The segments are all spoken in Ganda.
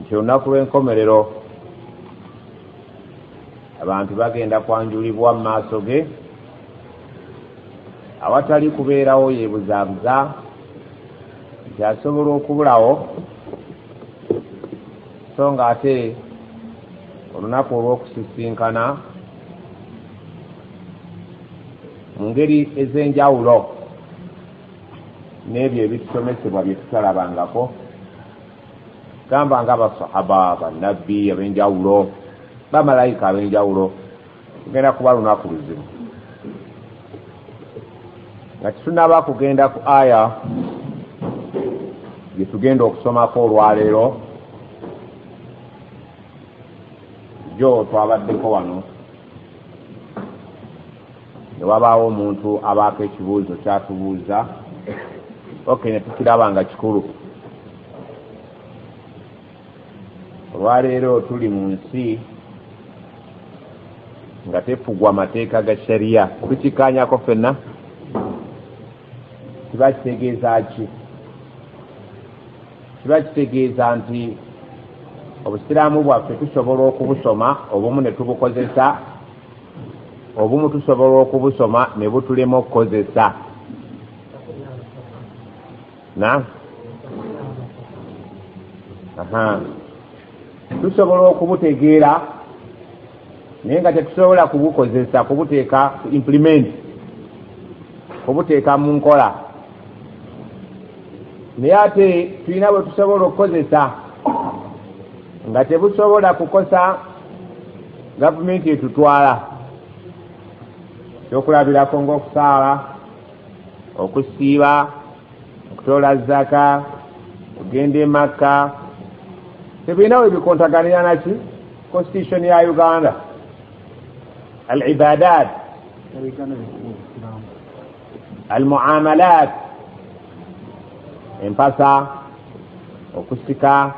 nti olunaku lw'enkomerero abantu bagenda kwanjulibwa mu maaso ge awatali kubeerawo yeebuzaabuza nti asobola okubulawo so nga ate olunaku olw'okusisinkana mu ngeri ez'enjawulo n'ebyo ebisomesebwa bye tutalabangako gamba nga abasahaba banabbi ab'enjawulo bamalayika ab'enjawulo tugenda kuba lunaku luzibu nga tetunaba kugenda ku aya gye tugenda okusomako olwaleero jo twabaddeko wano ne wabaawo omuntu abaako ekibuuzo kyatubuuza ok ne tukiraba nga kikulu olwaleero tuli mu nsi nga tefugwa amateeka ga shariya tukikanyako fenna kiba kitegeeza ki kiba kitegeeza nti obusiraamu bwaffe tusobola okubusoma obumu ne tubukozesa Obumu tusobola okubusoma ne butulema okukozesa na aha tusobola okubutegeera naye nga tetusobola kubukozesa kubuteeka implement kubuteeka mu nkola naye ate tulina bwe tusobola okukozesa nga tebusobola kukosa gavumenti etutwala ekyokulabirako ngaokusaala okusiiba okutoola zaka okugenda emakka tebirina we bikontaganira naki constitution ya uganda al ibadat almuamalat empasa okusika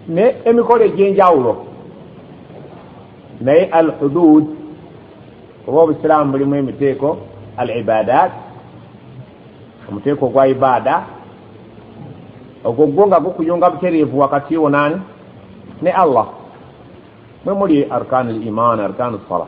ne emikolo egyenjawulo naye al hudud oba obusiraamu bulimu emiteeko al ibadat omuteeko ogwa ibaada ogwo gwo nga gukuyunga butereevu wakati wo naani ne allah mwe muli arkanu liman arkanu salah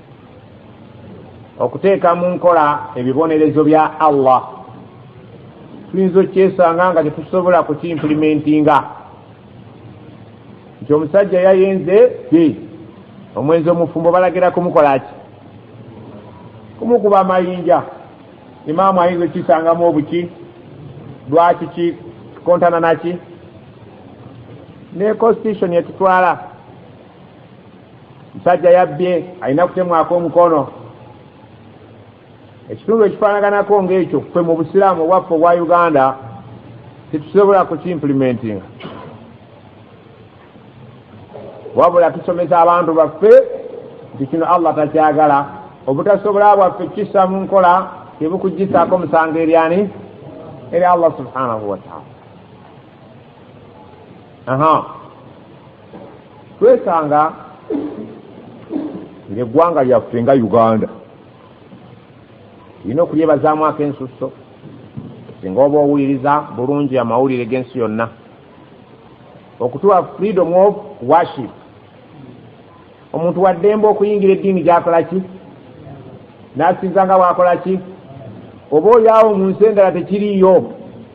okuteeka mu nkola ebibonerezo bya allah tuyinza okyesanga nga tetusobola kukiimpulimentinga nti omusajja yayenze ti omwenzi omufumbo balagira kumukola ki kumukuba amayinja imaamu ayinza okisangamu obuki lwaki kikontana naki ne constitution etutwala musajja yabbye alina kutemwako omukono ekitundu ekifaanaganako ngaekyo ffe mu busiraamu obwaffe obwa uganda tetusobola kukimplementinga wabula tusomesa abantu baffe nti kino allah takyagala obutasobola bwaffe kukissa mu nkola tebukugisaako musango eryani eri allah subhanahu wataala aha twesanga ngaeggwanga lyaffe nga uganda lina okulyebazaamu akensusso singa oba owuliriza bulungi amawulire g'ensi yonna okutuwa freedom of worship omuntu waddembe okuyingira eddiini gyakola ki n'asinza nga bwakola ki oba oyaawo mu nsi endala tekiriiyo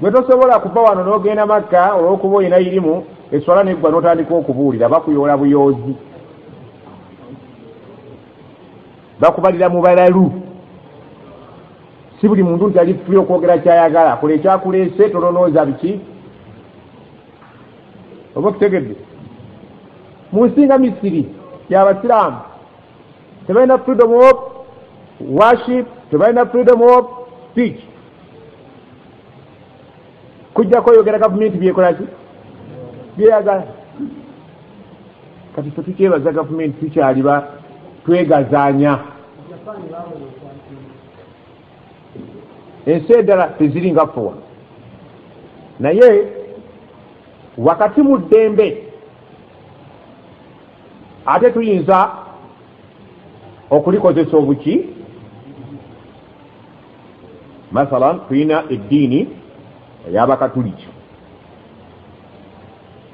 gwe tosobola kuva wano n'ogenda makka olw'okuba olina irimu eswala neggwa n'otandika okubuulira bakuyoola buyoozi bakubalira mu balalu si buli muntu nti ali fuli okwogera kyayagala kola ekyakuleese tolonooza biki oba okutegedde mu nsinga misiri y'abasiraamu tebalina freedom of worship tebalina freedom of speech kujjako oyogera gavumenti byekolaki byeyagala kati fe tukyebaza gavumenti tukyaliba twegazanya ensi eddala teziri nga fuwa naye wakati mu ddembe ate tuyinza okulikozesa obuki masala tulina eddiini eyabakatuliki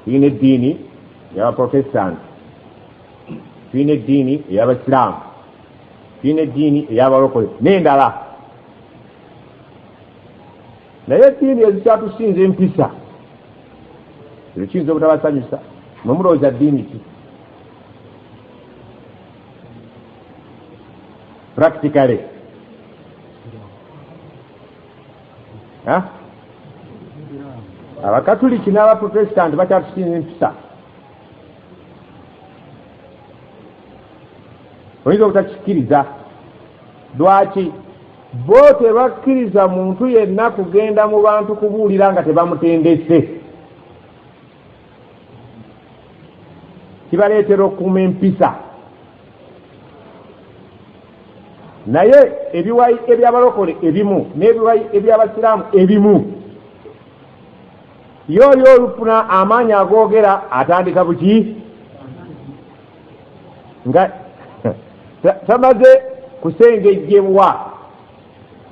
tulina eddiini eyabaprotestanti tulina eddiini eyabasiraamu tulina eddiini eyabalokole nendala naye eddiini ezikyatusinza empisa ebyo kiyinza obutabasanyusa mwe mulowooza ddiini ki practically abakatuliki n'abaprotestanti bakyatusinza empisa oyinza obutakikkiriza lwaki bo tebakkiriza muntu yenna kugenda mu bantu kubuulira nga tebamutendese kibaleetera okukuuma empisa naye ebiwayi ebyabalokole ebimu n'ebiwayi ebyabasiraamu ebimu yo oli olufuna amaanyi agoogera atandika buki nga tamaze kusengejjebwa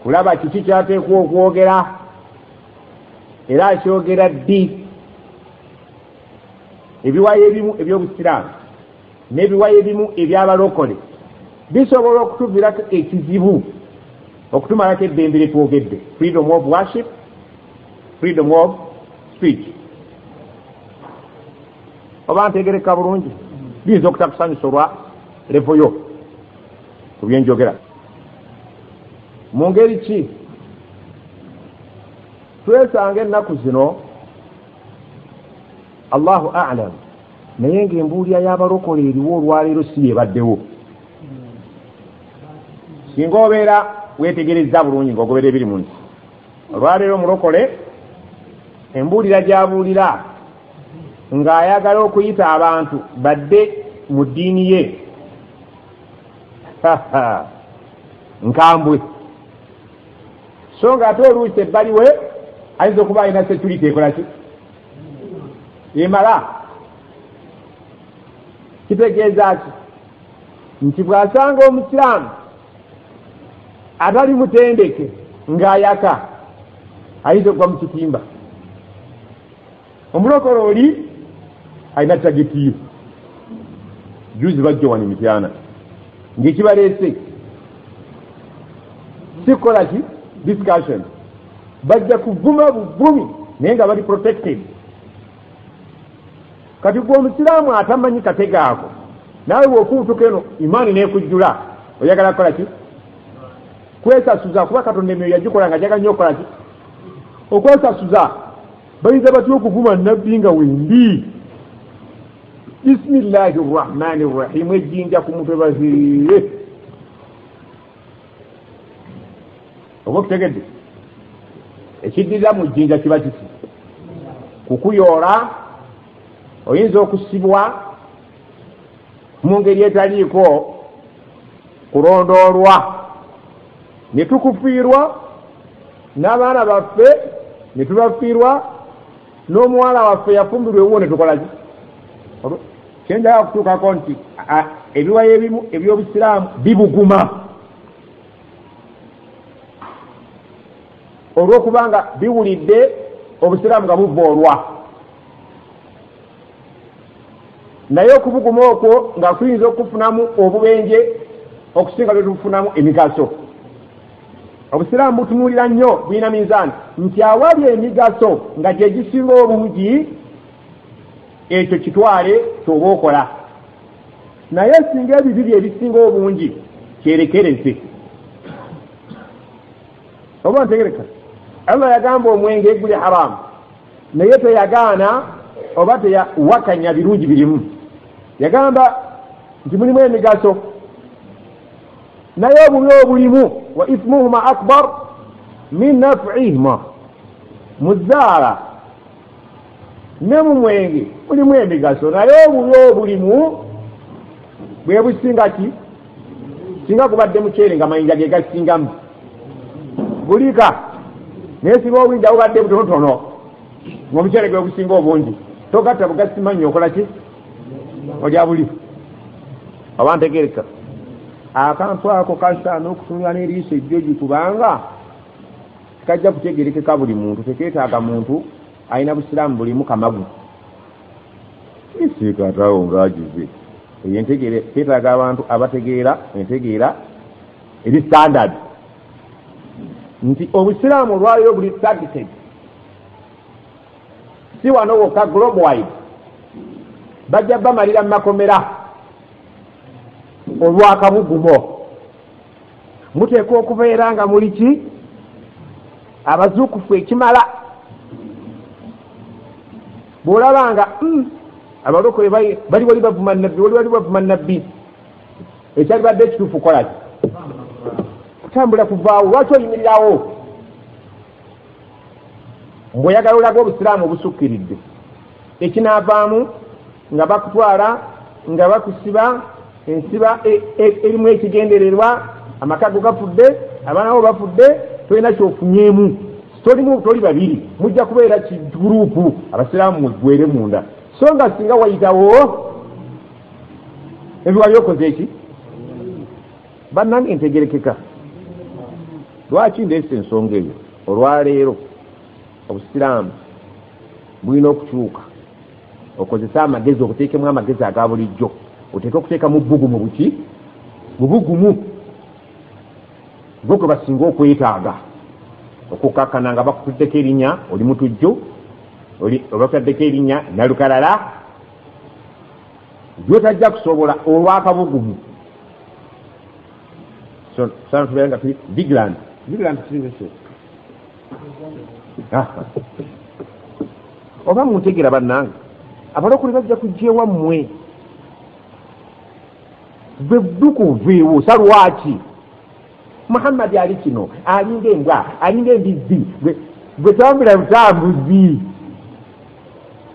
kulaba kiki kyateekwa okwogera era akyogera ddi ebiwayo ebimu ebyobusiraamu n'ebiwayo ebimu ebyabalokole bisobola okutuvirako ekizibu okutumalako eddembe lyetwogedde freedom of worship freedom of speech oba ntegereka bulungi biyinza okutakusanyusa olwa levo yo ku byenjogera mu ngeri ki twesanga ennaku zino allahu alam naye ngaembuulira y'abalokola eriwo olwaleero si yebaddewo singa obeera wetegerezza bulungi ngaogobera ebiri mu nsi olwaleero mulokole embuulira gyabuulira ng'ayagala okuyita abantu badde mu ddiini ye nkambwe so nga ate oluusi ebbali we ayinza okuba alina security ekolaki emala kitegeeza ki nti bw'asanga omusiraamu abali mutendeke ng'ayaka ayinza okuva mu kitimba omulokole oli alina tagitiyo juzi bajja wani mityana ngaekibaleese sikukola ki discussion bajja kuvuma buvumi naye nga bali protected kati gwe omusiraamu atamanyi katega ako naawe bwokuutuka eno imaani nekujjula oyagala kukola ki kwesasuza kuba katonda emyoyo yagikola nga jaga nyo okukola ki okwesasuza bayinza batya okuvuma nabbi nga wendi bisimillahi rrahmani rrahimu ejjinja ku mutwe baziire oba okitegedde ekiddirira mu jjinja kiba kiki kukuyoola oyinza okusibwa mu ngeri etaliiko kulondoolwa ne tukufiirwa n'abaana baffe ne tubafiirwa n'omuwala waffe yafumbirwa ewuwo ne tukola ki kyenjala okutuukako nti ebiwayo ebimu ebyobusiraamu bibuguma olwokubanga biwulidde obusiraamu nga buvoolwa naye okubuguma okwo nga kuyinza okufunamu obubenje okusinga byetufunamu emigaso obusiraamu butunuulira nnyo bulina minzaani nti awali emigaso nga gyegisinga obungi ekyo kitwale kyoba okola naye singa ebibi bye ebisinga obungi kyerekereze oba ntegereka allah yagamba omwenge guli haramu naye teyagaana oba teyawakanya birungi birimu yagamba nti mulimu emigaso naye obubi obulimu wa ismuhuma akbar min nafihima muzaala ne mu mwenge mulimu emigaso naye obubi obulimu bwe businga ki singa gubadde muceere nga mayinja ge gasingamu gulika naye singa obwinja bubadde butonotono ngaomuceere gwe gusinga obungi togatta bugasimannyo okola ki olya buli oba ntegereka akantu ako kasaana okutunula n'eriiso ejjoji kubanga Tekajja kutegerekeka buli muntu, teketaaga muntu alina busiraamu bulimu kamagu. Kisiika ataawo ng'agize eyo entegeera, ketaaga abantu abategeera entegeera eri standard nti obusiraamu olwaliro buli targeted si wano wokka globe wide bajja bamalira mu makomera olwakabugumo muteekwa okubeera nga muli ki abazuukufu ekimala bw'olaba nga hmm, abalokole bali wali bavuma nabbi wali wali bavuma nabbi ekyali badde ekituufu kolaki kutambula kuvaawo lwaki oyimirirawo mbweoyagala olaga obusiraamu obusukkiridde ekinaavaamu nga bakutwala nga bakusiba ensiba e, e, erimu ekigendererwa amaka go gafudde abaana bo bafudde tolina kyofunyeemu tolimu toli babiri mujja kubeera kiguruupu abasiraamu mugwere munda so nga singa wayitawo ebiwali okoze eki bannange ntegerekeka lwaki ndeesa ensonga eyo olwaleero obusiraamu bulina okukyuka okozese amagezi obuteekemu amagezi aga bulijjo oteeke okuteeka mu bbugumu buki mu bugumu gwe gwe basinga okwetaaga okukakkana nga bakutuddeko erinnya oli mutujju obakutaddeko erinnya nalukalala gyotajja kusobola olwakabugumu so sana tubeera nga tuli vigilant vigilant oba muntegera bannange abalokole bajja kujja ewammwe gwe ddukuviiwo sa lwaki muhammadi ali kino alinga embwa alinga embizzi gwe tambula butambuzi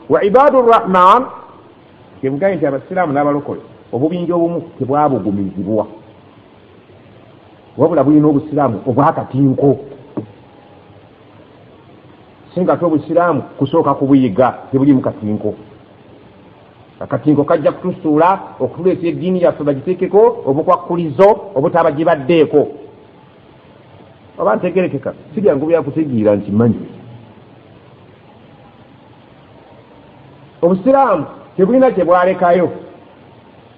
wa ibadu rrahman kyebugaye nti abasiraamu n'abalokole obubinja obumu tebwabugumizibwa wabula bulina obusiraamu obwakatinko singa ate obusiraamu kusooka kubuyiga tebulimu katinko akatinko kajja kutusuula okutuleeta eddiini yaffe bagiteekeko obukwakkulizo obutaba gibaddeeko oba ntegerekeka sibyangu byakutegeera nti manyi obusiraamu tebulina kyebwalekayo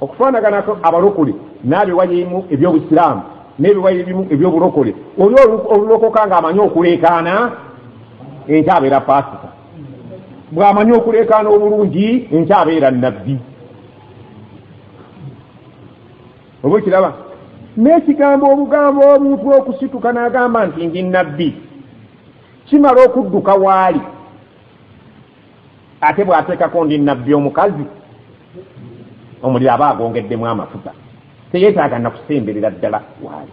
okufaanaganako abalokole n'abiwayo ebimu eby'obusiraamu n'ebiwayo ebimu eby'obulokole oli olulokoka ng'amanyi okuleekaana enkyabeera paasita bw'amanyi okuleekaana obulungi enkyabeera nabbi oba okiraba n'ekigambo obugambo omuntu okusituka n'agamba nti ndi nabbi kimala okudduka waali ate bw'ateekako ndi nabbi omukazi omuliro aba agwongeddemu amafuta teyeetaaga nakusemberera ddala waali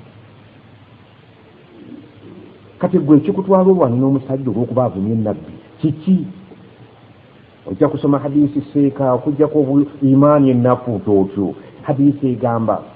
kati gwe ekikutwala olwani n'omusajja olw'okuba avumye nabbi kiki ojja kusoma hadiisi seeka okujjako imaani ennafu tootyo hadiisi egamba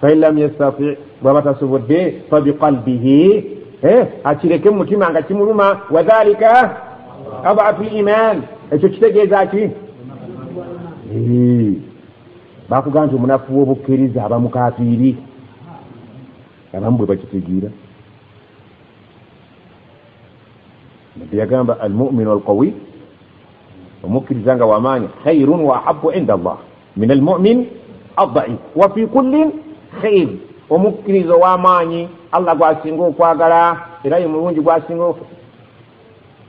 fain lam yastati bwaba tasobodde fabiqalbihi eh, akireke mu mutima nga kimuluma wadhalika abatu liman ekyo kitegeeza ki eh, bakugamba nti omunafu wobukkiriza aba mukafiiri abamu bwe bakitegeera nabbi yagamba almuminu alqawi omukkiriza nga wamaanyi khairun waahabu inda allah min almumin addaif wafi kullin khair omukkiriza ow'amaanyi allah gwasinga okwagala era ye mulungi gwasinga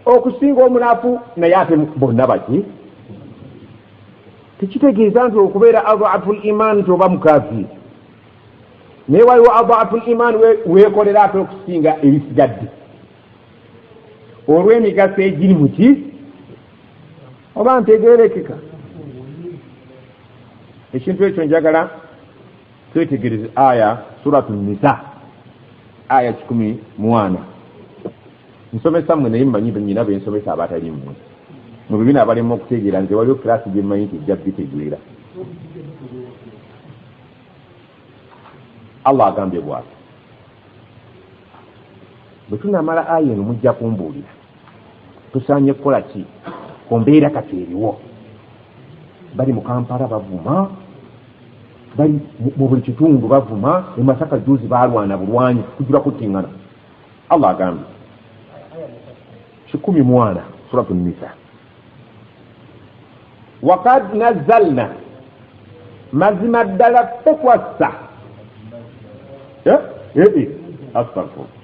okusinga omunafu naye ate bonna baki tekitegeeza nti okubeera adhafu liman nti oba mukazi naye waliwo adhafu liman weekolera ate okusinga ebisigadde olw'emigaso egiri muki oba ntegerekeka ekintu ekyo njagala twetegereze aya suratu nisa aya kikumi mwana nsomesa mwe naye mmanyi nyina bensomesa abatali mmwe mu bibina abalema okutegeera nze waliwo kirasi gyemmanyi nti ejja bitegeera allah agambye bwati bwe tunamala aya eno mujja kumbuulira tusaanye kukola ki ku mbeera kati eriwo bali mu kampala bavuma bali mu buli kitundu bavuma e masaka juzi balwana bulwanyi kujula kuttingana allah agambye kikumi mwana suratu nisa wakad nazalna mazima ddala ffe twassa eh? eh, eh. astagfirullah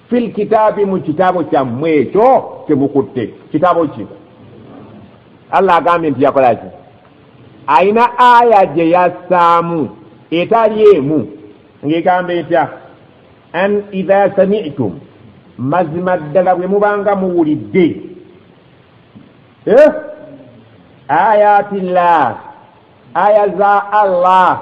fil kitaabi mu kitaabo kyammwe ekyo kyemukutte kitaabo ki allah agambye nti yakola ki alina aya gye yassaamu etali emu ng'egamba etya an idha samitum mazima ddala bwe mubanga muwulidde eh? ayati llah aya za allah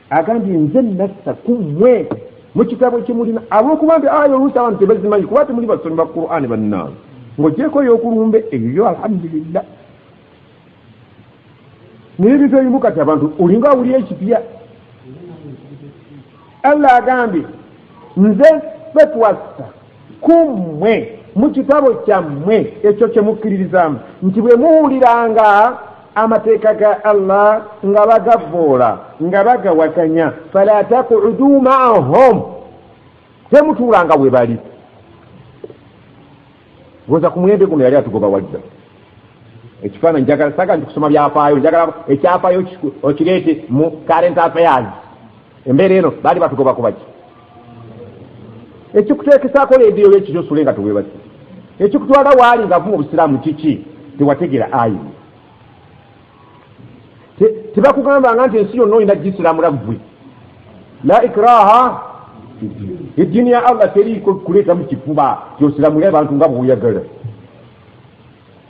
agambye nze nassa ku mmwe mu kitabo ekimulina ab'okuba nti aya oluusi abantu tebazimanyi kuba temuli basomi ba qur'ani bannaawe ng'ogyeko ey'okulumba eyo yo alhamdulillah naye ebintu ebimu kati abantu olinga awulira ekipya allah agambye nze fetwassa ku mmwe mu kitabo kyammwe ekyo kye mukkiririzaamu nti bwe muwuliranga amateeka ga allah nga bagavvoola nga bagawakanya fala takudu maahum temutuulanga we bali oza ku mulembe guno yali atugoba wajja ekifaananyi njagala saga nti kusoma byafaayo njagala ekyafaayo okireete mu current affairs embeera eno baali batugoba kubaki ekikuteekesaako leediyo yekiri osule nga tewebaki ekikutwala waali ngaavuma obusiraamu kiki tewategera ayi tebakugambanga nti ensi yonna olina gisiramula ggwe la ikraha eddiini ya allah teriiko kuleetamu kifuba kyosiramule abantu nga bwoyagala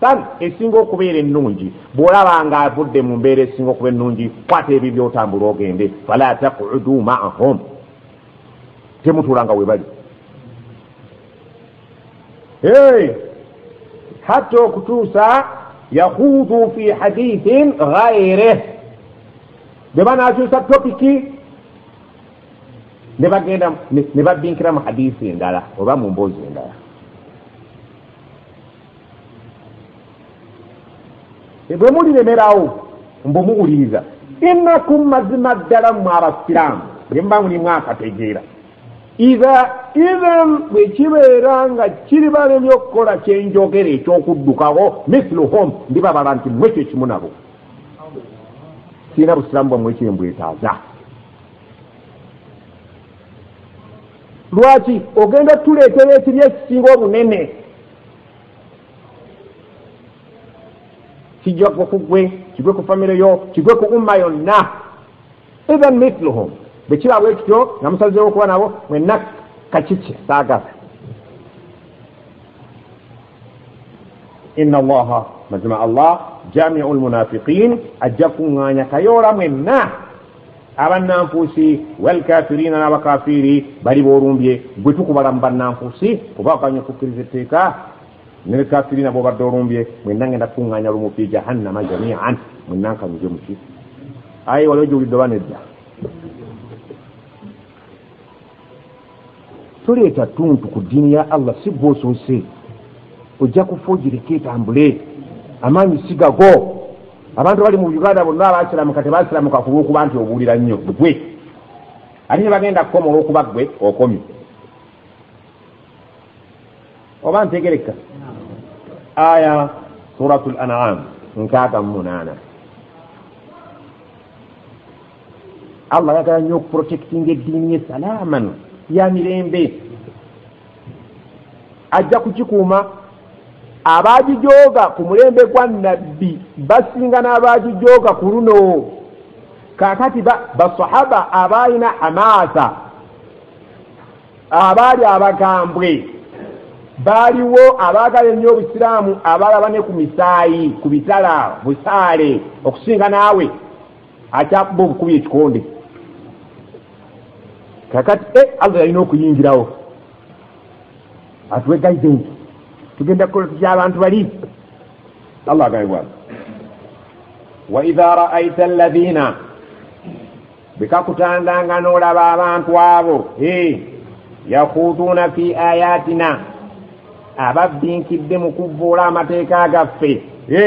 Bali esinga okubeera ennungi bw'olaba ng'avudde mu mbeera esinga okuba ennungi kwata ebyo by'otambula ogende fala takudu maahum temutuula nga we bali hatta okutuusa yahuudu fi hadithin ghaireh bwe banaakyusa topiki ne bagenda ne babbinkira mu hadisi endala oba mu mboozi endala bwe muliremerawo mbu muwuliriza innakum mazima ddala mmwe abasiraamu bye muba mulimu akategeera iha idhan bwe kibeera nga kiribalemye okukola kyenjogera eky'okuddukawo mithlu home ndibabala nti mmwe kyo kimu nabo sirina busiraamu bwammwe kyembwetaaza lwaki ogenda otuleetera ekibi ekisinga obunene kijja kugwa ku ggwe kigwe ku famire yo kigwe ku umma yonna even mithluhum bwe kiba bwe kityo nga musazeewo okuba nabo mwenna kakiki saagala inna allaha mazima allah jamiu lmunafiqin ajja kuŋŋaanya kayoola mwenna abannanfuusi walkafiriina n'abakafiiri bali b'olumbye gwe tukubala mu bannanfuusi kuba okanya okukkiriza etteeka nelkafiriina bw'obadde olumbye mwenna ngenda kukuŋŋaanya lumu fi jahannama jamian mwenna nkanyuge muki aye waliwo gyowulidde oba nedda toleeta ttuntu ku ddiini ya allah si gwe osoose ojja kufa ogireke etambule amaanyi sigago abantu abali mu uganda bonna abasiramuka tebasiramuka ku lwokuba nti obuulira nnyo gwe ate nebagenda kukoma olwokuba gwe okomye oba ntegereka aya surat l anam nkaaga mu munaana allah ayagala nnyo okuprotectinga eddiini ye salaaman ya mirembe ajja kukikuuma abaagijooga ku mulembe gwa nabbi basinga n'abaagijooga ku luno kakati basahaba abaalina hamaasa abaali abagambwe baaliwo abaagala ennyo obusiraamu abaalaba ne ku misaayi ku bitala busaale okusinga naawe akyakuba obukubi ekikonde kakati e allah yalina okuyingirawo atuwe guidance tugenda kukola tutya abantu bali allah agambibwa waidha raaita alladhina bwekakutandanga n'olaba abantu abo e yakhuduuna fi ayatina ababbinkidde mu kuvvuula amateeka gaffe e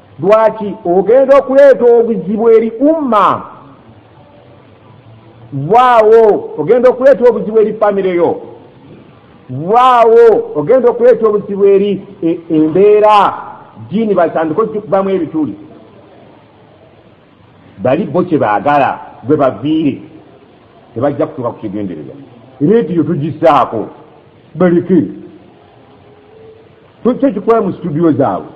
lwaki ogenda okuleeta obuzibu eri umma vaawo ogenda okuleeta obuzibu eri famire yo vaawo ogenda okuleeta obuzibu eri e, embeera jiini batandika okikubamu ebituli bali bo kye baagala gwe baviire tebajja kutuuka ku kigendererwa rediyo tugisaako baleke kyo kikwaye mu situdiyo zaabwe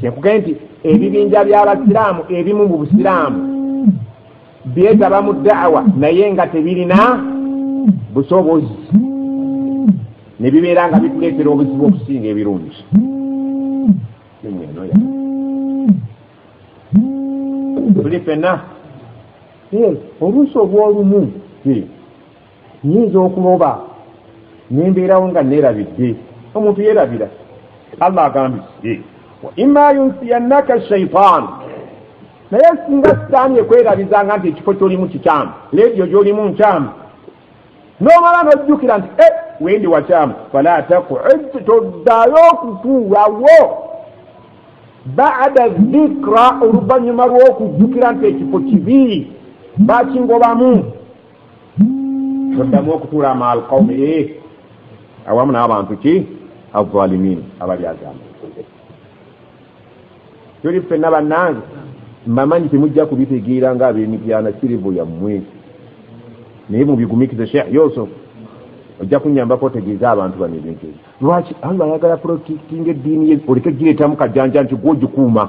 kyekugee nti ebibinja by'abasiraamu ebimu mu busiraamu byetaba mu daawa naye nga tebirina busobozi ne bibeera nga bituleetera obuzibu okusinga ebirungi tuli fenna oluusi obwolumu nyinza okuloba nembeerawo nga nerabidde omuntu yerabira allah agambye wa ima yunsiyannaka shaitaanu naye singa sitaani ekwerabizanga nti ekifo kyolimu kikyamu leediyo gyolimu nkyamu nomala nojjukira nti e wendi wakyamu fala takuid toddayo okutuulawo baada zikra oluvannyuma lw'okujjukira nti ekifo kibi bakingobamu oddamu okutuula amaal qawmi e eh, awamu n'abantu ki azalimin abali agamba tuli ffenna bannange mbamanyi temujja kubitegeera nga ab'emityana kirivu yammwe naye mubigumikize sheikh yusuf ojja kunyambako otegeeza abantu bano ebintu ebyo lwaki allah ayagala protectinga eddiini ye oleke gireetamu kajanja nti gwogikuuma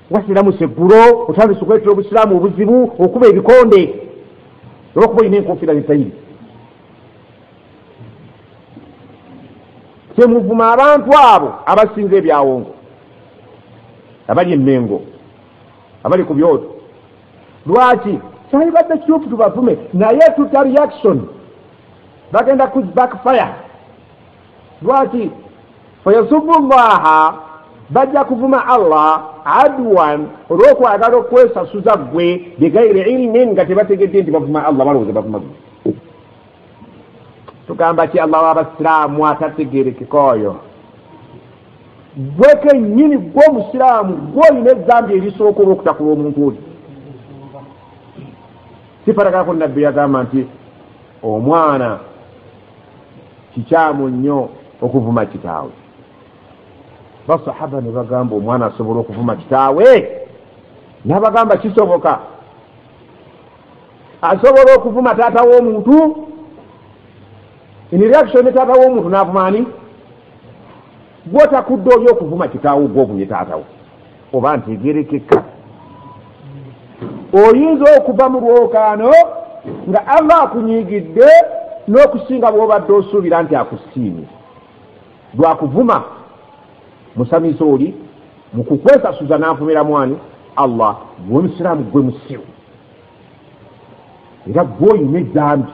wasiramuse eggulo otandise okuletera obusiraamu obuzibu okuba ebikonde olwokuba olina enkofiira zitayiri kyemuvuma abantu abo abasinza ebyawongo abali emengo abali ku byoto lwaki kyalibadde kituufu tubavume naye tuta reaction bagenda ku backfire lwaki fayasubu llaha bajja kuvuma allah adwan olwokwagala okwesasuza gwe bigairi ilmin nga tebategedde nti bavuma allah balowooza bavuma gwe tugamba ki allah wabasiraamu atategerekeka oyo gwe kenyini gwe omusiraamu gwe olina ezambi erisooka olwokutakula omuntu oli sifarakako nabbi yagamba nti omwana kikyamu nnyo okuvuma kitaawe basahaba ne bagamba omwana asobola okuvuma kitaawe nabagamba kisoboka asobola okuvuma taata w'omuntu in reaction ne taata w'omuntu navuma ani Gwotakudde oli okuvuma kitaawo gwe ovumye taatawo oba ntegerekeka oyinza okuva mu lwokaano nga allah akunyigidde n'okusinga bwobadde osuubira nti akusiimye lwakuvuma musamize oli mukukwesasuza n'avumira mwani allah gwe omusiraamu gwe musiru era gwoyina edambi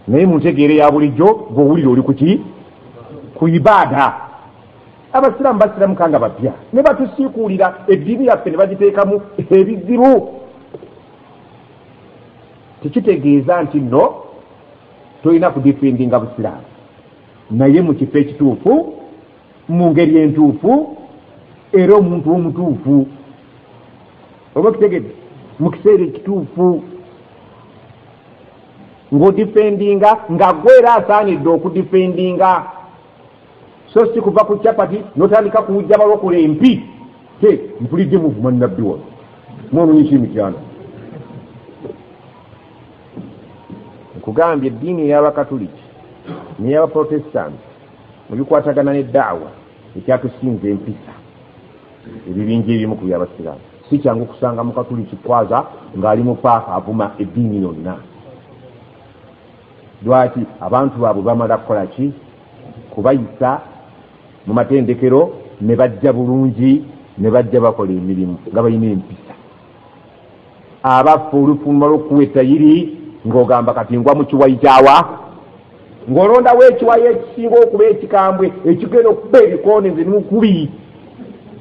naye muntegeere ya bulijjo gwowulire oli kuki ku ibaada abasiraamu basiramuka nga bapya ne batusiikuulira eddiini yaffe ne bagiteekamu ebizibu tekitegeeza nti no tolina kudifindinga busiraamu naye mu kifo ekituufu mu ngeri entuufu era omuntu omutuufu oba kitegede mu kiseera ekituufu ng'odifendinga nga gwe era asaanidde okudifendinga so si kuva ku capati notandika kuwujja balokula empi te mpulidde muvuma nabbi wano mwononyisa emityano nkugambye eddiini ey'abakatuliki ney'abaprotestanti Mu bikwatagana ne da'wa, ekyatusinza empisa ebibinja ebimu ku by'Abasiraamu. Si kyangu kusanga Mukatuliki kwaza ng'ali mu paaka avuma eddiini yonna. Lwaki? Abantu baabwe bamala kukola ki? Kubayisa mu matendekero ne bajja bulungi ne bajja bakola emirimu nga balina empisa. abaffe olufuluma lwokuwa etayiri ngaogamba kati ngwa mukiwayi kyawa ngaolondawo ekiwayi ekisinga okuba ekikambwe ekigenda okuba ebikoone nze nimukubi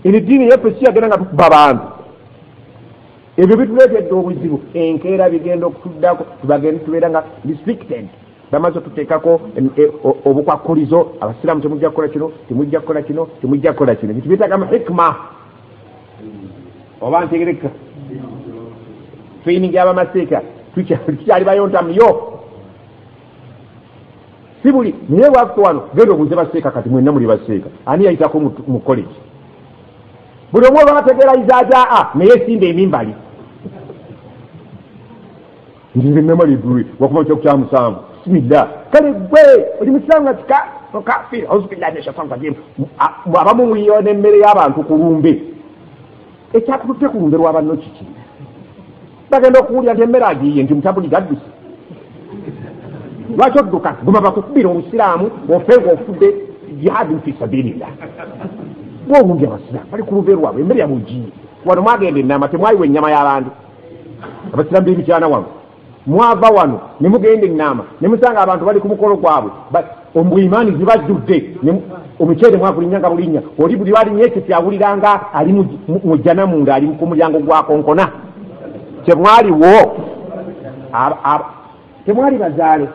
emidiini yaffe siyagenda nga tukuba bantu ebyo bituleetedde obuzibu enkeera bigenda okutuddako tubagende tubeera nga restricted bamaze otuteekako e, obukwakulizo abasiraamu temujja kukola kino temujja kukola kino temujja kukola kino bitubitagamu hikma oba ntegereka feyiningi abamaseeka tukyali bayontamu yo si buli naye bwakuta wano genda obuuze baseeka kati mwenna muli baseeka ani yayitako mu college buli omu olwabategeeraiza ajaa naye esimba emimbali nzize nama library wakuba kya kya musanvu sibida kale gwe oli musanga tika kafir auzu billahi min shaitan rajim abamu muyiwa n'emmere y'abantu ku lumbe ekyakututte ku lumbe lwa banno kiki bagenda okuwulira nti emmere agiye nti mutabuli gadduse lwaki odduka guma bakukubira obusiraamu ofe ngaofudde jihadin fi sabilillah gwe owundi abasiraamu bali ku lumbe lwabwe emmere yabugiye wano mwagenda enama temwayiwa ennyama y'abantu abasiramu bemikyana wano mwava wano nemugenda enaama nemusanga abantu bali ku mukolo gwabwe omu imaani zibajjudde omuceere mwagulinya nga bulinya oli buli walinya ekyo kyawuliranga ali mujjana munda ali ku mulyango gwakonkona kyemwaliwo temwali bazaale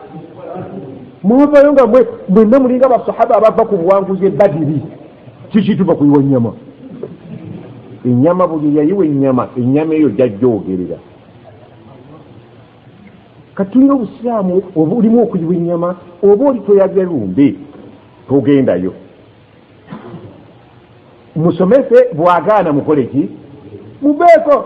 mwavayo nga mwe mwenna mulinga basahaba abava ku buwanguzi ebadiri kikituva kuyiwa enyama enyama buli yayiwa enyama enyama eyo jajjogerera kati tulina obusiraamu oba olimu okuyiwa enyama oba oli toyagya lumbe togendayo musomese bwagaana mukole ki mubeeko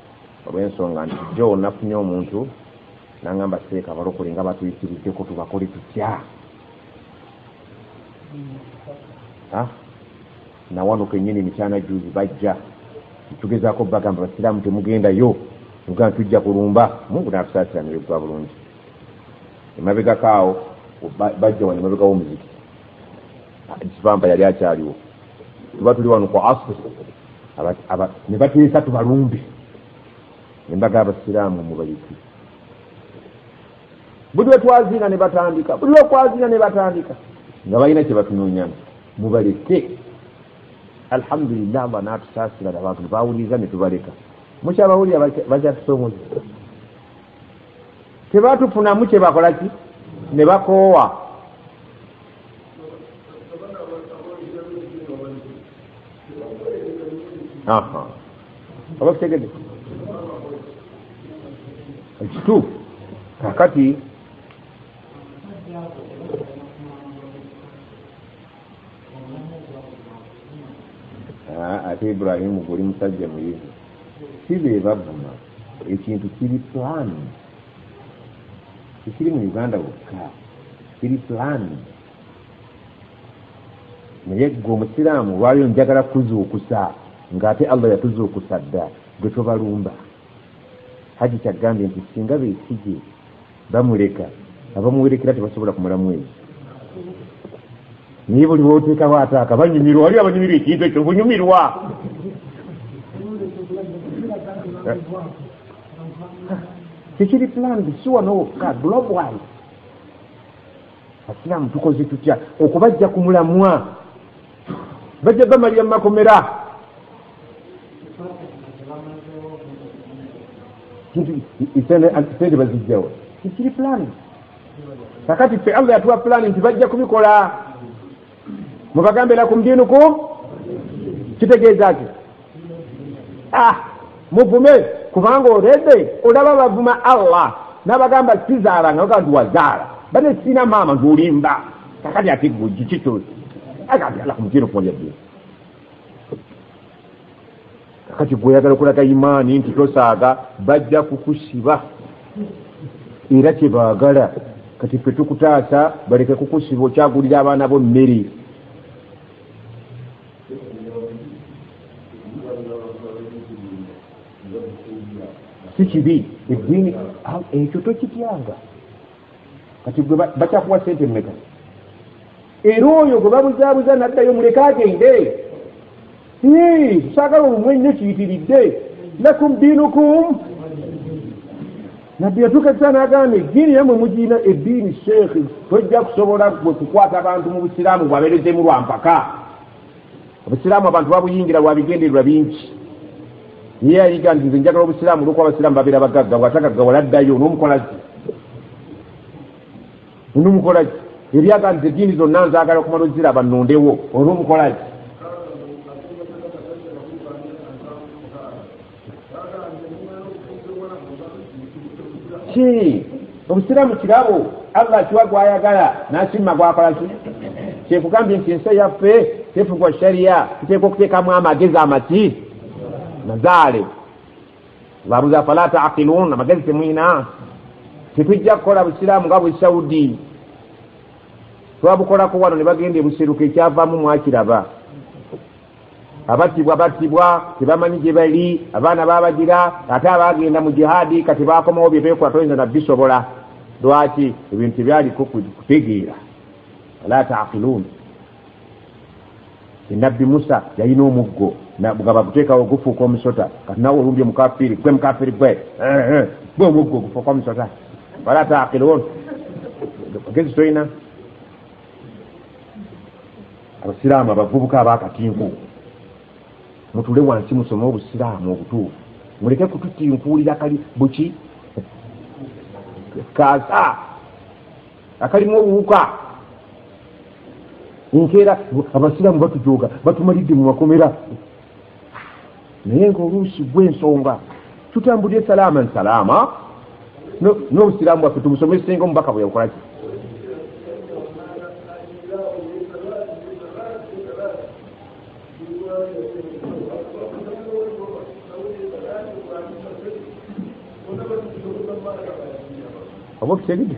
olw'ensonga nti jjo nafunye omuntu nangamba seeka balokole nga batuyisiriddeko tubakole tutya ah, nawano kenyini mikyana juzi bajja tugezako bagamba basiraamu temugendayo nugaa tujja kulumba mungu natusaasira neyogwa bulungi emabegakaawo bajja wano emabega womuziki ekivampa yali akyaliwo tuba tuli wano ku asr ne bateesa tubalumbe embaga abasiraamu mubayiki buli wetwazina ne batandika buli wekwazina ne batandika nga balina kyebatunonyana mubaleke alhamdulillah mba natusaasira abantu nebawuliriza netubaleka mukyabawulira bakyatusoomoza tebatufunamu kyebakola ki ne bakoowa oba kitegede ekituufu kakati ah, ate ibrahimu guli musajja muyivu si be bavuma ekintu kiri plan tekiri mu uganda wokka kiri plan naye gwe omusiraamu olwaliro njagala kuzuukusa ng'ate allah yatuzuukusa dda gwe tobalumba haji kyagambye nti singa besigye bamuleka abamuwerekera tebasobola kumala mwezi naye buli woteekawo ataaka banyumirwa wali abanyumirwa ekintu ekyo bunyumirwa tekiri plandi si wano wokka global asiraamu tukoze tutya okubajja ku mulamwa bajja bamalira mu makomera sente bazijjawo kikiri pulani kakati ffe allah yatuwa pulani nti bajja kubikola mubagambe lakum dinukum kitegeeza ki ah, muvume kubanga olede olaba bavuma allah nabagamba sizaala nga bagaa ndiwazaala bane sina maama ndulimba kakati ati gukikyo akati ala kumutino kumalya dini kakati gweyagala okulaga imaani nti tosaaga bajja kukusiba era kyebaagala kati ffe tukutaasa baleke kukusiba okyagulira abaana bo mmere si kibi eddiini ekyo tokityanga kati gwe bakyakuwa sente mumeka era oyo gwe babuzaabuza naddayo muleke agende saagala omumwe nnyo kiyitiridde lakum diinukum nabbi yatuuka ekisaa n'agamba eddiini yamwe mugirina eddiini sheekhi tojja kusobola gwe kukwata abantu mu busiraamu bwabeerezemu lwa mpaka obusiraamu abantu babuyingira lwa bigendererwa bingi ye yayiga nti nze njagala obusiraamu olwokuba abasiraamu babeera bagagga bwatagaggawala addayo n'omukolazi n'omukolazi ebyaga nti eddiini zonna nzaagala okumala oziraba nnondewo olw'omukolazi ki obusiraamu kirabo allah akiwa gwayagala nakimma gwakola ki kyekugambye nti ensi yaffe tefugwa sharia tuteeka okuteekamu amagezi amaki mazaale babuza fala taqilun amagezi temwina tetujja kukola busiraamu nga bwesaudi twabukolako wano ne bagenda ebuseruka ekyavamu mwakiraba abattibwa battibwa tebamanyi gye bali abaana babagira ate abaagenda mu jihaadi kati baakomawo bye beekola toyinza na bisobola lwaki ebintu tebyaliko kutegeera ala taakiluuni enabbi musa yalina omuggo nga baguteekawo gufuuka omusota kati nawe olumbye mukafiri gwe mukafiri gwe eh, eh, gwe omuggo gufuuka omusota ala taakiluuni magezi tolina abasiraamu abavubuka abakatinku mutule wansi musome obusiraamu obutuufu muleke kututinkuulira kali buki kaasa akalimu obuwuka nkeera abasiraamu batujoga batumalidde mu makomera naye nga oluusi gwensonga tutambulire salaama nsalaama n'obusiraamu bwaffe tubusomesenga omubaka bwe yakolaki oba okitegede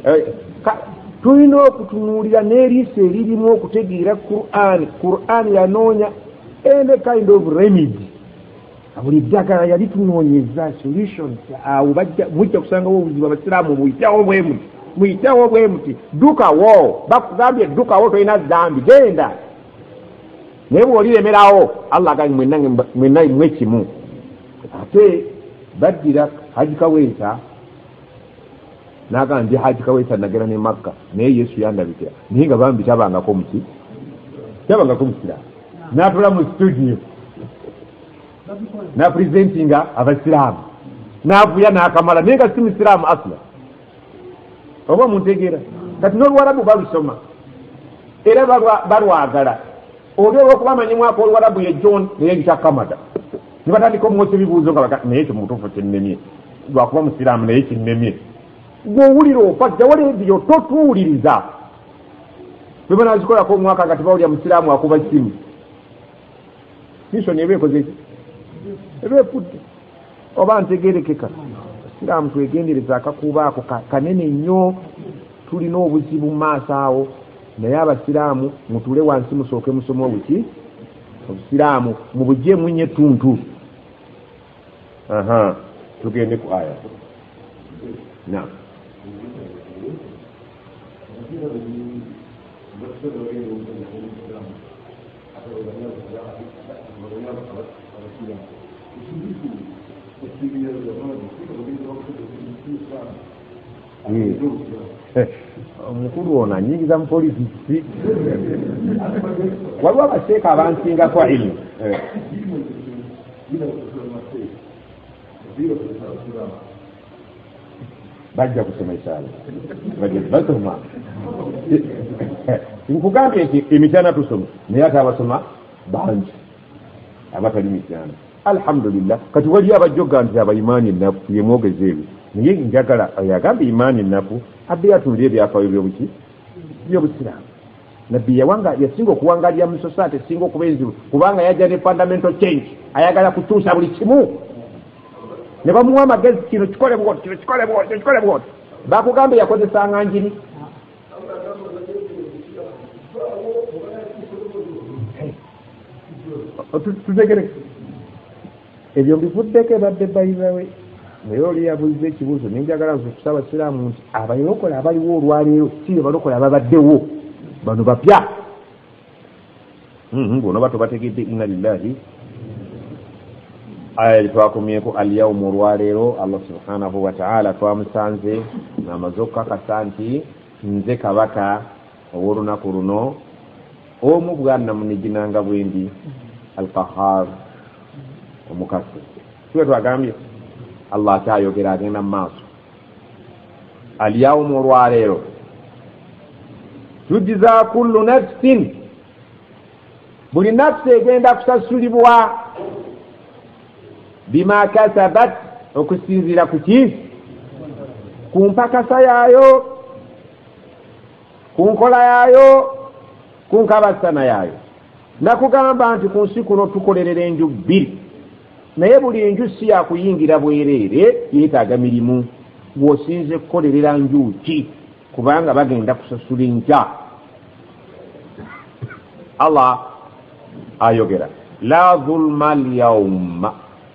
eh, tulina okutunuulira n'eriiso eririmu okutegeera qur'an qur'an yanoonya any kind of remedy buli ddagala yali tunoonyeza solutions awo mujja kusangawo obuzibu abasiraamu muyitewo bwemuti muyitewo bwemuti dukawo bakugambye dukawo tolina zambi genda naye bwoliremerawo allah aganyi mwenna mwekimu ate baddira haji kaweesa naga ndi haji kaweesa nagera ne makka naye yesu yandabikira naye nga bambi tabangako muki tabangako musiraamu natula mu studio napresentinga abasiraamu navuya nakamala naye nga si musiraamu asla oba muntegeera kati noluwarabu balusoma era balwagala oli olwokuba amanyi mwaka oluwarabu ye john neyeyita kamada ne batandika omwosa ebibuuzo nga baga naye ekyo mu butuufu kinnemye lwakuba musiraamu naye kinnemye gwowulira ofa jjawo leediyo totuwuliriza bwe banazikolako omwaka nga tebawulira musiraamu akuba simu misoni eba ekozeki eba efudde oba ntegerekeka siraamu twegendereza akakuuba ako kanene nnyo tulina obuzibu mu maaso awo naye abasiraamu mutuule wansi musooke musomewo buki obusiraamu mubujeemu nyo ettuntu aha tugende ku aya na Thank you. Eh, omukulu ono anyingiza mu polisi kiki waliwo abaseeka abansingako ilmu eh. bajja kusoma ekyalo basoma nkugambye nti emityana tusoma naye ate abasoma bangi abatali mityana Alhamdulillah kati waliyo abajjoga nti aba imaani ennafu yemwogeza ebyo naye njagala oyo agamba imaani ennafu abbe yatunuliyo ebyafaayo byobuki byobusiraamu nabbi yawanga yasinga okuwangalira mu society esinga okuba enzibu kubanga yajja ne fundamental change ayagala kukyusa buli kimu ne bamuwa amagezi kino kikole bwoti kino kikole bwoti kino kikole bwoti bakugambe yakozesanga njiri tutegere ebyo mbivuddeko ebadde bayizawe naye oli yabuliza ekibuuzo nenjagala nzukusa abasiraamu nti abalokole abaliwo olwaleero si be balokole ababaddewo bano bapya hmm, bonoba tobategedde inna lillahi aya gyetwakomyeko alyaumu olwaleero allah subhanahu wataala twamusanze amaze okukakasa nti nze kabaka Ow'olunaku luno omu bwanamunigina nga bwendi Al-Qahhar omukasi siwe twagambye Allah akyayogera agenda mu maaso alyawumu olwaleero tujiza kullu nafsin buli nafsi egenda kusasulibwa bima kasabat okusinziira ku ki ku mpakasa yaayo ku nkola yaayo ku nkabasana yaayo nakugamba nti ku nsi kuno tukolerera enju bbiri naye buli enju si yakuyingira bwereere yeetaaga mirimu gwosinze kukolerera nju ki kubanga bagenda kusasula enkya allah ayogera la zulma lyauma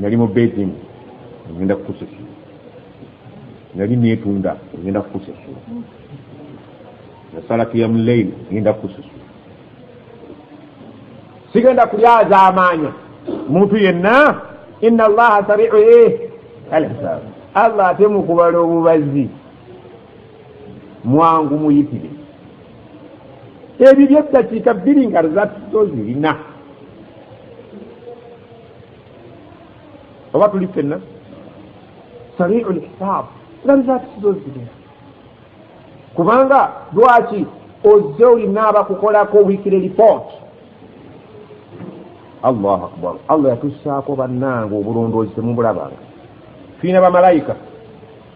nali mu beijing ngenda kukusasula nali netunda ngenda kukusasula nasala kiyamu leili ngenda kukusasula sigenda kulyazaamaanya muntu yenna ina allaha sariu e alhisaabu allah ate mukubala obubazi mwangu muyitire ebibyo eddakiika bbiri nga rezatito zirina oba tuli fenna sariu lhisaabu nga rezatito zirina kubanga lwaki ozze olina abakukolako wikire report allahu akbar allah yatusaako bannange obulondoozi temubulabanga fiina bamalayika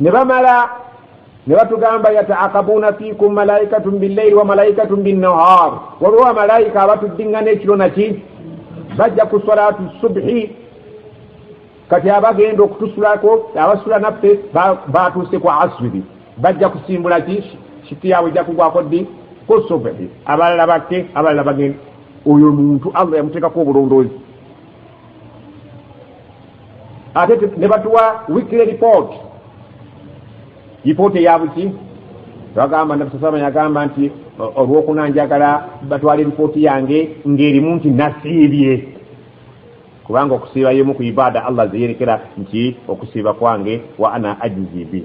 ne bamala ne batugamba yataakabuuna fiikum malaikatun billaili wa malaikatun binnahar waliwo bamalaika abatuddingana ekiro naki bajja ku salatu subhi kati abagenda okutusulako abasula naffe batuuse ku asiri bajja kusimbula ki shifi yaabwe ejja kugwako ddi ku subhi abalala bakke abalala bagenda oyo muntu allah yamuteekako obulondoozi ate ne batuwa weekly report report eyabuki twagamba nabsasama yagamba nti olwokuna njagala batwala eripoti yange ng'erimu nti nasiibye kubanga okusiiba yemu ku ibaada allah zeyerekera nti okusiiba kwange wa ana ajizibi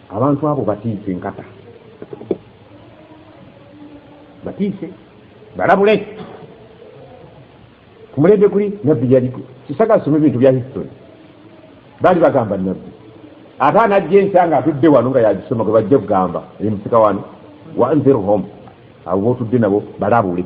Abantu abo batiise nkata. Batiise. Balabule. Kumulede kuli nabbi yaliku. Kisaka sumu bintu bya history. Bali bagamba nabbi. Ata anajje ensanga atudde wano nga yajisoma gwe bajje kugamba eri musika wano wa anzir home abo botudde nabo balabule.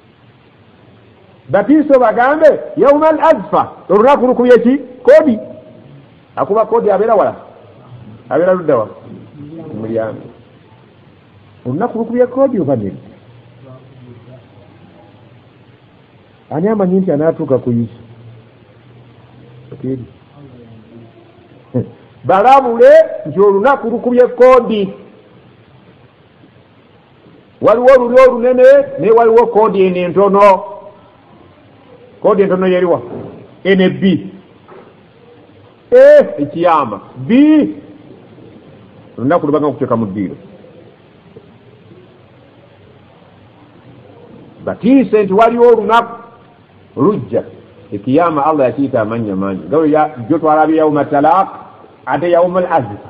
batiise obagambe yauma al azfa olunaku lukubye ki kodi akuba kodi abeera wala abeera luddawa mulyango olunaku lukubye kodi oba ned ani amanyi nti anaatuuka ku yesu okiri balabule nti olunaku lukubye kodi waliwo olulyo olunene naye waliwo koodi eno entono koodi entono yeriwa ene b e ekiyama b olunaku lubanga kuteeka mu ddiiro batiise nti waliwo olunaku lujja ekiyama allah yakiyita amannya mangi galo jotwalabye yauma talaq ate yauma al azifa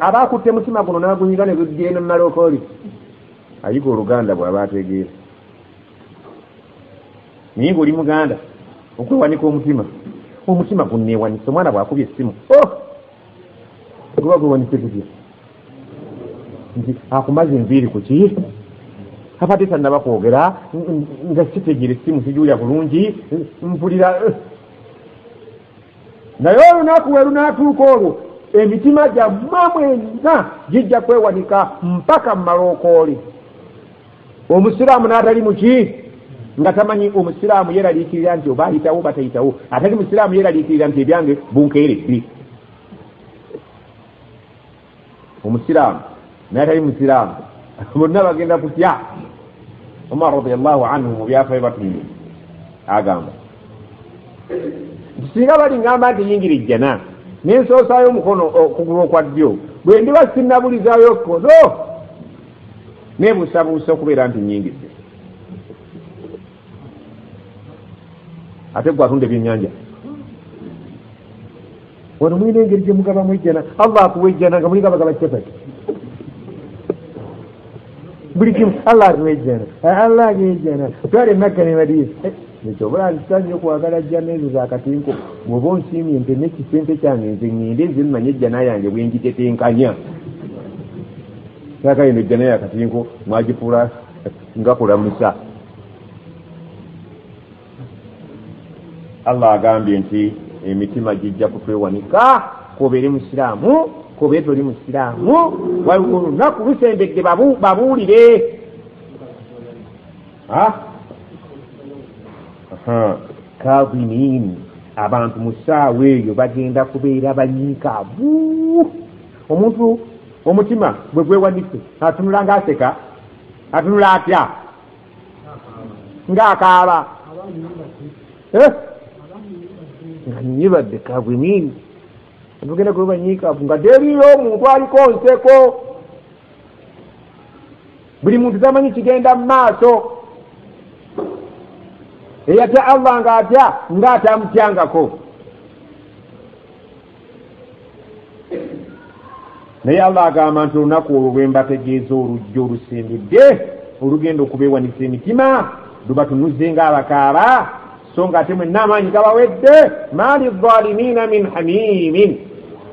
aba akutte mutima guno n'agunyiga ne gujja eno mumalokooli ayiga oluganda bw'aba ategeera naye ng'oli muganda okwewanika omutima omutima gunneewanise omwana bw'akubye essimu o oh! guba gwewanise gutya nti akumaze enviiri ku ki abadde tannaba kwogera nga sitegere essimu sijuulya bulungi mpulira eh! naye olunaku we lunaatuuka olwo emitima gyammwe mwenna gijja kwewanika mpaka mu malookoole omusiraamu n'atali muki nga tamanyi omusiraamu yeraliikirira nti oba ayitawo batayitawo atali musiraamu yeraliikirira nti ebyange bunkeere bbi omusiraamu naye atali musiraamu bonna bagenda kutya omar radiallahu anhu mu byafayo batumye agamba nti singa balingamba nti yingira ejjana nensoosaayo omukono okugulu okwa ddyo bwe ndiba sinabulizaayo kkono nebuusabuusa okubeera nti nyingidde ate gwe atunda ebyenyanja wano mulina engeri gyemugabamu ejjana allah akuwa ejjana nga mulinga bagaba capati buli kimu allah atuwa ejjana allah atuwa ejjana twale makka ne madiina eh, ekyo obulaa nkisanyo okwagala jjana ezo zakatinko bwoba onsiimye nte nekisente kyange nze ŋŋende nze mmanye ejjana yange bwengitetenkanya saakayo no ejjana yakatinko mwagifuula nga kulamusa allah agambye nti emitima gijja kutwewanika kobeere musiraamu kobeere toli musiraamu waliwo olunaku lusembedde babuulire kaviniini abantu mu ssaawa eyo bagenda kubeera banyiikaavu omuntu omutima bwe gwewanise atunula nga aseka atunula atya ngaakaaba eh? nga nyibadde kagwinini atugenda kuba nyikavu nga teriyo omuntu aliko nseko buli muntu tamanyi kigenda mu maaso eyatya allah nga atya nga atamutyangako naye allah agamba nti olunaku olwo lwe mbategeeza olujja olusembedde olugenda okubeewanisa emitima lubatunuze nga abakaaba so nga ate mwenna amaanyi gabawedde maali zalimiina min hamimin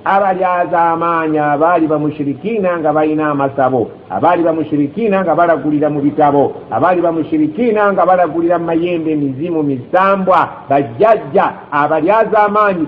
abalyaza amaanyi abaali bamushirikiina nga balina amasabo abaali bamushirikiina nga balagulira mu bitabo abaali bamushirikiina nga balagulira mu mayembe emizimu misambwa bajjajja abalyaza amaanyi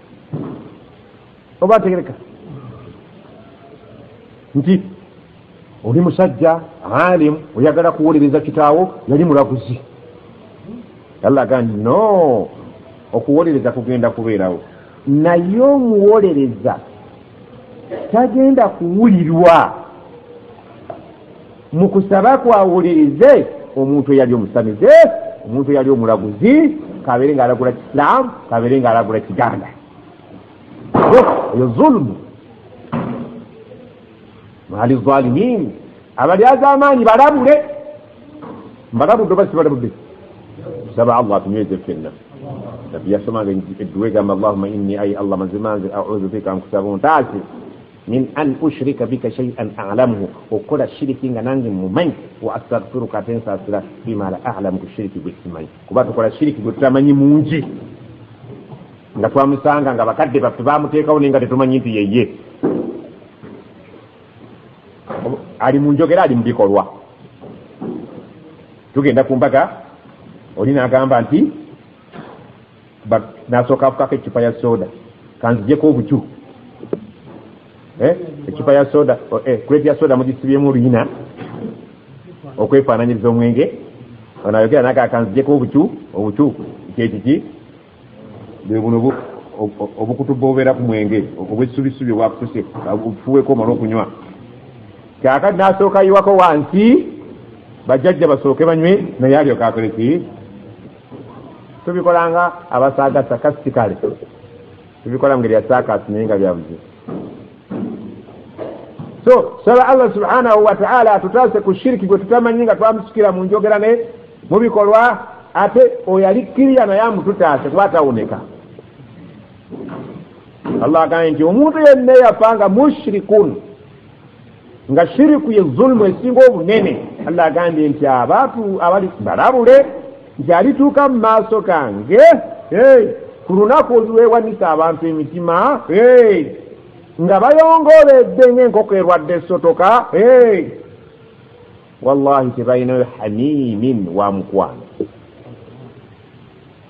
oba ategereka nti oli musajja alimu oyagala kuwolereza kitaawo yali mulaguzi allah agandi no okuwolereza kugenda kubeerawo naye omuwolereza tagenda kuwulirwa mu kusaba kwawulirize omuntu eyali omusamize omuntu eyali omulaguzi kabeere nga alagula kisilamu kabeere nga alagula kiganda oyo zulumu mwali zalimin abali azamaanyi balabule mbalabudde oba sibalabudde tusaba allah atunyweze fenna nabbi yasomanga edduwa egamba allahuma inni ai allah mazima nze audu bika nkusaba ontaase min an ushirika bika shay'an a'lamuhu okukola shiriki nga nange mumanyi wa astaghfiruka ate nsasira bima la a'lamu ku shiriki gwe simanyi kuba tukola shiriki gwe tutamanyi mungi nga twamusanga nga bakadde baffe bamuteekawo naye nga tetumanyi nti yeye ali mu njogera ali mu bikolwa tugenda ku mbaga oli n'agamba nti bag nasooka afukako eccupa ya soda kanzijeko obuju eh, eccupa ya soda oh, eh, kuleti ya soda mugisibyemu oluyina okwefaananyiriza omwenge ono ayogera naga kanzijeko obuju obuju kyekiki bwe buno obukutu bwobeera ku mwenge obwesubisubi obwakutuse bufuweko omala okunywa kyakati nasooka yiwako wansi bajjajja basooke banywe naye alyokakoleki tubikola nga abasaaga sakasitikale tubikola mungeri ya saakasi naye nga byabuzibu so saba allah subhanahu wataala atutaase ku shiriki gwe tutamanyi nga twamusukira mu njogera ne mu bikolwa ate oyo ali kiriya naye amututaase kuba atawoneka allah agambye nti omuntu yenna eyafa nga mushrikun nga shiriku ye zulumu esinga obunene allah agambye nti abantu abali balabule nti alituuka mu maaso gange ku lunaku olulwewanisa abantu emitima nga bayongooledde ngaenkoko erwadde esotoka wallahi tebalinayo hamimin wa mukwano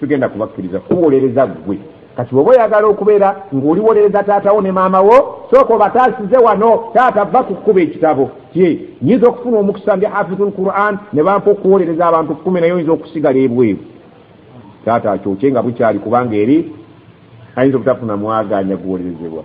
tugenda kubakkiriza kuwolereza ggwe kati woba oyagala okubeera ng'oliwolereza taatawo ne maama wo sooka obataasize wano taata va ku kkuba ekitabo kye nyinza okufuna omukisa ndi hafizu lquran ne bampa okuwolereza abantu kkumi naye oyinza okusigala ebweru taata akyokye nga bukyali kubanga eri ayinza obutafuna mwaganya guwolerezebwa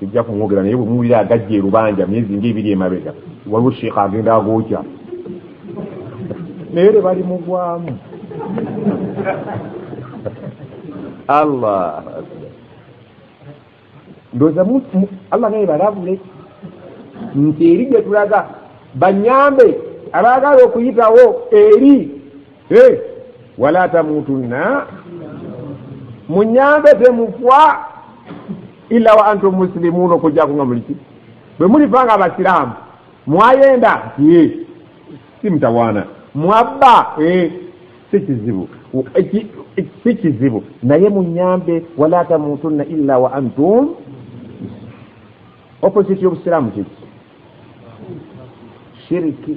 sijja kumwogera naye bwemuwulira agajja erubanja myezi ngaebiri emabega waliwo sheekha agenda agookya naye tebali mugwamu allah ndoza allah naye balabule nti eri gyetulaga banyambe abaagala okuyitawo eri hey, wala tamutunna munyambe temufwa ila wa antum musilimuuna okujjako nga muliki bwe mulifa nga abasiraamu mwayenda ye si mutawaana mwabba e si kizibu si kizibu naye munyambe wala tamutunna ila wa antum opposite y'obusiraamu kiki shiriki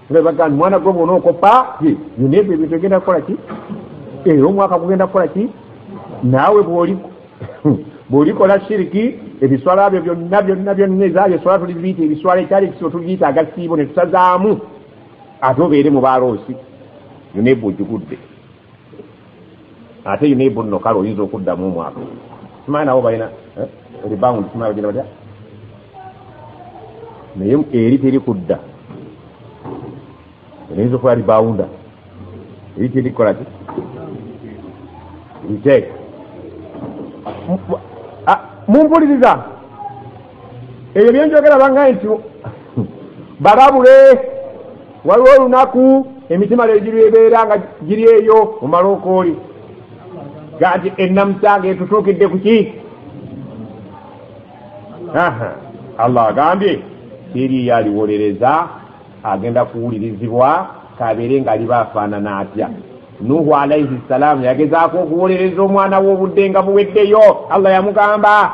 nebaga nti mwana gwe bona okopa ye yona ebyo ebintu egenda kukola ki era eh, omwaka gugenda kukola ki naawe bwolikola shiriki ebiswala byo byonna byonna byonna ezaayo eswala tuliziyita ebiswala ekyali ekisibo tuliyita agasiibo ne tusazaamu ate obeere mu baaloosi yona ebwo ogigudde ate yina ebunno kale oyinza okuddamu omwaka simanyi nabo balina eh, rebound simanyi bagenda batya naye eri teri kudda eyinza okuba rebounda eri teri kukola ki iteeka mumpuliriza ebyo byenjogera bangaye nti bababule waliwo olunaku emitima lejiri ebeera nga giri eyo mumalookooli gati enamusanga etutuukidde kuki allah agambye siriyo aliwolereza agenda kuwulirizibwa kabeere ngaaliba afaanana atya nuhu alaihi ssalaamu yagezaako okuwolereza omwana w'obudde nga buweddeyo allah yamugamba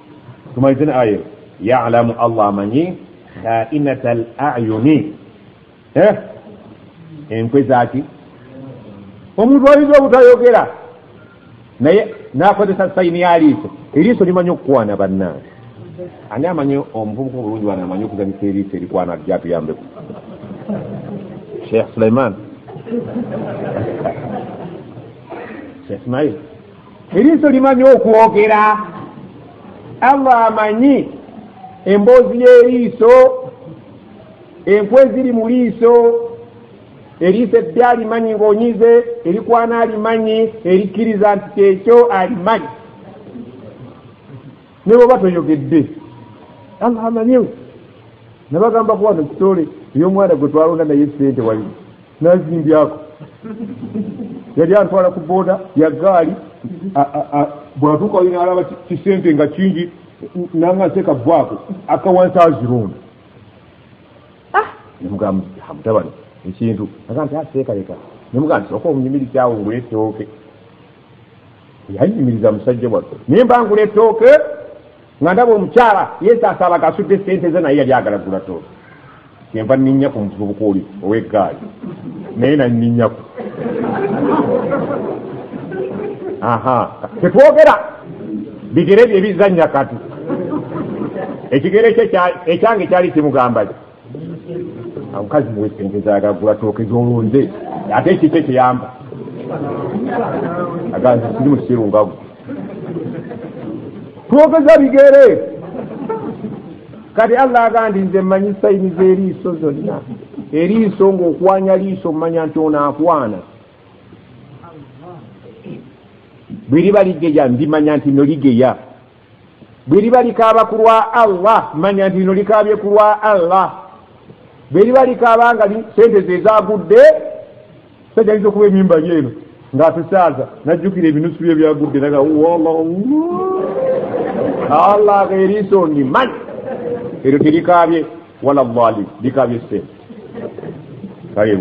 tumalize ne aya yalamu allah amanyi kainat al ayuni eh? enkwe zaki omuntu ayinza obutayogera naye nakozesa sayini yaliiso eriiso limanyi okukwana bannange ani amanyi omuvubuka obulungi wana amanyi okuzanyisa eriiso erikwana jatuyambeku sheikh suleiman sheikh ismail eriiso limanyi okwogera allah amanyi emboozi y'eriiso enkwe eziri mu liiso eriiso edde alimanyi ng'onyize erikwana alimanyi erikkiriza nti kyekyo alimanyi ne bwoba toyogedde allah amanyewo nabagamba kuwano kitole eyomwana gwe twalonda naye sente wali nazimbyako yali antwala ku boda ya gaali bwatuuka wali nalaba kisente nga kingi nanga nteeka vwaako akawansi azirunda ah! nemugamba mutabani ekintu aga nti aseekaleka ah, nemugamba nti oka omunyumirizawo ngule etooke yanyumiriza musajja wattu naye mba ngula ettooke nga ndaba omukyala yesaasaba kasudde ssente ze naye yali agala gula tooke kyenva nninnya ku muvubuka oli ow'eggaali naye nanninnyaku aha tetwogera bigere bye bizannya kati ekigere kye ekyange kyali kimugambaki omukazi muwe sente zagagula tooke zolonze ate ekikyo kiyamba aganze kiri mu kisiru ngavu twogeza bigere kati allah agandi nze mmanyi sayini z'eriiso zonna eriiso ng'okwanya liiso mmanya nti ono akwana bwe liba ligeya ndimanya nti no ligeya bwe liba likaaba ku lwa allah manya nti lino likaabye ku lwa allah bwe liba likaaba nga sente ze zagudde sajaliza okuba emimbali eno ng'atusaaza najjukira ebinusu bye byagudde naga allah eriiso ndi manyi eryo terikaabye wala lali likaabye sente kale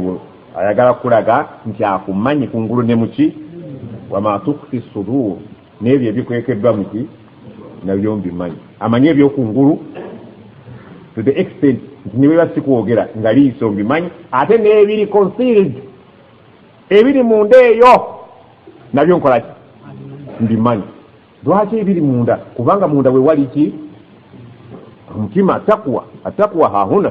ayagala kukulaga nti akumanyi kungulu ne muki wama tukfi sudur n'ebyo ebikwekeddwa mu ki nabyo mbimanyi amanyi ebyokungulu to the extent nti niweba sikwogera nga liiso mbimanyi ate n'ebiri concealed ebiri munda eyo nabyo nkola ki mbimanyi lwaki ebiri munda kubanga munda wewali ki omutima takwa atakwa hahuna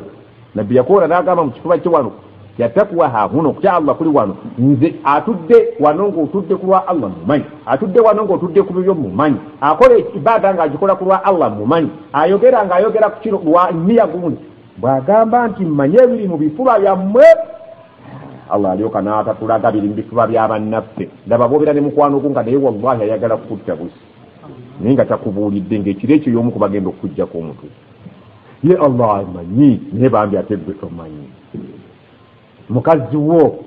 nabbi yakoola n'agamba mu kifuba kye wano yatakuwa hahuna okutya allah kuli wano nze atudde wano ngaotudde ku lwa allah mumanyi atudde wano ngaotudde ku bibyo mumanyi akola ibaada ngaagikola ku lwa allah mumanyi ayogera ngaayogera ku kino lwa niya gundi bw'agamba nti mmanye ebiri mu bifuba byammwe allah alyoka n'atatulaga biri mu bifuba bya bannaffe ndaba boobera ne mukwano gu nga naye wallahi ayagala kukutta busi naye nga takubuulidde ngaekiro ekyo yomu kubagenda okukujjako omutu ye allah amanyi naye bambi ate gwe tomanyi mukazi wo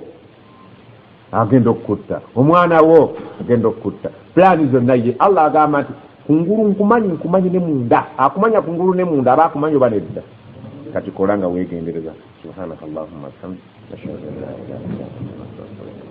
agenda okukutta omwana wo agenda okukutta pulaani zonna ye allah agamba nti kungulu nkumanyi nkumanyi ne munda akumanya kungulu ne munda aba akumanyi oba nedda kati kola nga weegendereza subhanaka allahumma bihamdi ashhadu an la ilaha illa anta astaghfiruka